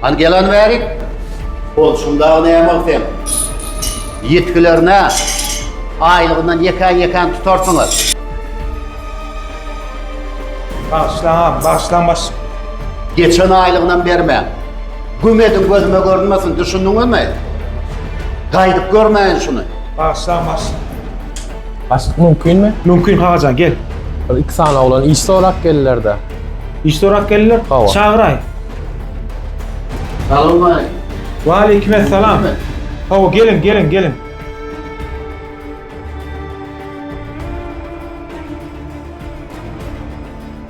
Hany gelan bäri. Ol şundagy näme sen? Ýetgilerine aýlygyndan ýekän-ýekän tutarsyňyz. Bagyşlaň agam, bagyşlaň baş. Geçen aýlygynam bermäň. Güm ediň gözüme görünmesin, düşündiňizmi? Gaýdyp görmäýin şuny. Bagyşlaň baş. Başlyk mümkinmi? Mümkin Kakajan, gel. Bir iki sany oglan iş sorap geldiler-de. Iş sorap geldiler? Hawa. Çagyraý. Salam aleýkum. Wa aleýkum essalam. Hawa geliň, geliň, geliň.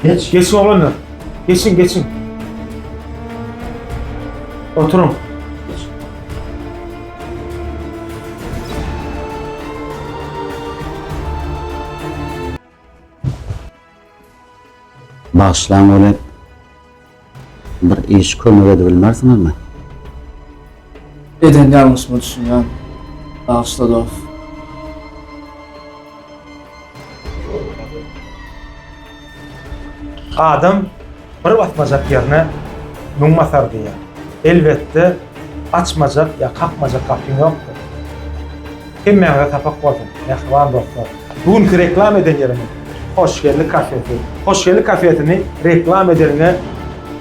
Geç. Geçin oglanlar. Geçin, geçin. Oturun. Bagyşlaň welin bir iş kömek edibilmersiňizmi? Eden ýalňyşyma düşünýän. Bagyşla dost. Adam Bir basmajak ýerine müň basar diýýär. Elbetde, açmajak ýa kakmajak gapyň ýokdur. Hemmäňize sapak bolsun, mähriban dostlar! Bu günki reklam eden ýerimiz Hoşgeldi kafesi. Hoşgeldi kafesini reklam edeniňe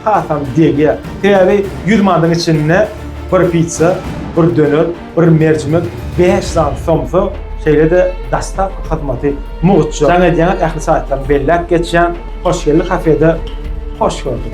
hasam degýär. Sebäbi ýüz manadyň içinde bir pitsa, bir döner, Bir merjimek bäş zant somsa, şeýle-de dostawka hyzmaty mugt. Jaň edýäňiz ähli saýtlaryny belläp geçýän Hoşgeldi kafede hoş gördük.